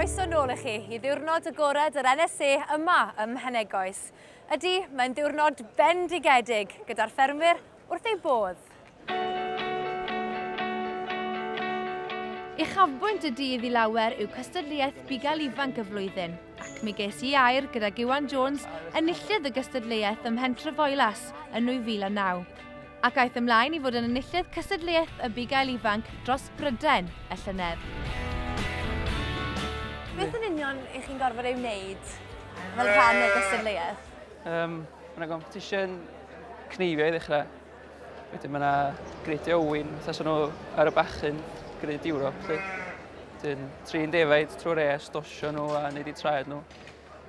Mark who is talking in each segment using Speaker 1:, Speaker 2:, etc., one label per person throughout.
Speaker 1: Croeso nôl i chi i ddiwrnod agored yr NSA yma ym Mhenegoes. Ydy, mae'n ddiwrnod bendigedig gyda'r ffermwyr wrth ei bodd. Uchafbwynt y dydd i lawer yw cystadleuaeth bugail ifanc y flwyddyn, ac mi ges i air gyda Iwan Jones, enillydd y gystadleuaeth ym Mhen Trefoelas yn 2009. ac aeth ymlaen i fod yn enillydd Cystadleuaeth y Bugail Ifanc dros Brydain y llynedd. Beth yn union ych chi'n gorfod ei wneud fel rhan o'r gystadleuaeth? Um, mae
Speaker 2: yna competition cneifio i ddechrau. Wedyn mae yna greidio yw'n fatha sy'n nhw ar y bachyn, greid Ewrop. Wedyn trin defaid trwy'r es, dosio nhw a wneud i traed nhw.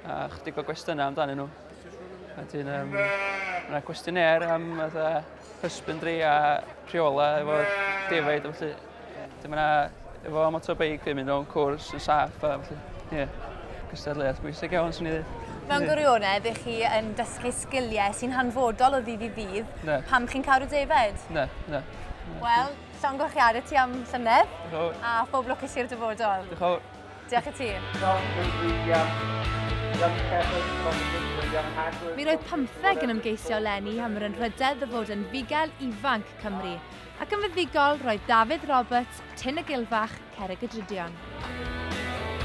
Speaker 2: A chydig o gwestiynau amdanyn nhw. Wedyn, um, yna cwestiynau am fatha husbandry a rheola efo defaid a felly. Dim yna efo motorbike yn mynd o'n cwrs yn saff a felly. Ie. Yeah. Cystadleuaeth bwysig iawn, swn i ddweud. Mewn gwirionedd,
Speaker 1: ych chi yn dysgu sgiliau sy'n hanfodol o ddydd i ddydd ne. pam chi'n cael y defaid? Ne, ne.
Speaker 2: Wel,
Speaker 1: llongoch chi ar y ti am llynedd. A phob lwc i si'r dyfodol. Diolch Diolch
Speaker 2: i ti.
Speaker 1: Mi roedd pymtheg yn ymgeisio eleni am yr anrhydedd o fod yn fugail ifanc Cymru, ac yn fuddigol roedd Dafydd Roberts, Tyn y Gilfach, Cerrig y Drydion.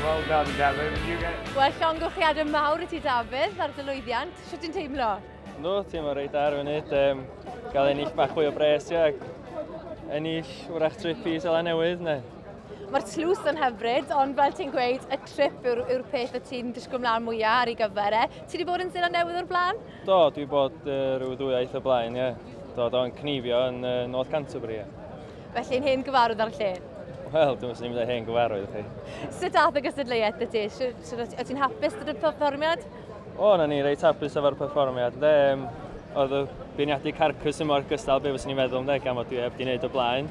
Speaker 3: Well done, Dafydd. You get... Wel,
Speaker 1: llongyflliadau mawr i ti, Dafydd, ar dy lwyddiant. Sut ti'n teimlo? Ynddo, teimlo reit
Speaker 3: ar y funud. Um, gael ennill bach fwy o bres, ac ennill wrach trip i Sela Newydd, neu? Mae'r tlws
Speaker 1: yn hyfryd, ond fel ti'n gweud, y trip yw'r yw peth y ti'n disgwyl mlaen mwyaf ar ei gyfer e. Ti wedi bod yn Zeland Newydd o'r blaen? Do, dwi wedi bod
Speaker 3: uh, rhyw ddwywaith o blaen, ie. Yeah. Do, do'n cnifio yn uh, North Canterbury. Felly'n hen
Speaker 1: gyfarwydd ar y lle? Wel, dwi'n sy'n mynd â
Speaker 3: hen gyfarwydd chi. Sut ath y
Speaker 1: gystadleuaeth y ti? O't ti'n hapus gyda'r perfformiad? O, na ni
Speaker 3: reit hapus efo'r perfformiad. De, oedd y beirniadu carcus yn mor gystal be fyswn i'n meddwl, de, gan fod dwi heb di wneud o blaen.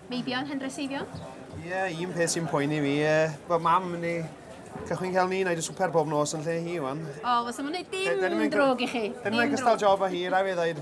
Speaker 1: Meibion hen dreseifion? Ie, un
Speaker 4: peth sy'n poeni fi, e, bod mam yn ei cychwyn cael ni, na i dy swper bob nos yn lle hi, wan. O, fos am wneud dim
Speaker 1: drwg
Speaker 4: i chi. Dyn nhw'n
Speaker 1: cystal
Speaker 4: job o
Speaker 1: hi,
Speaker 4: rai fe ddweud.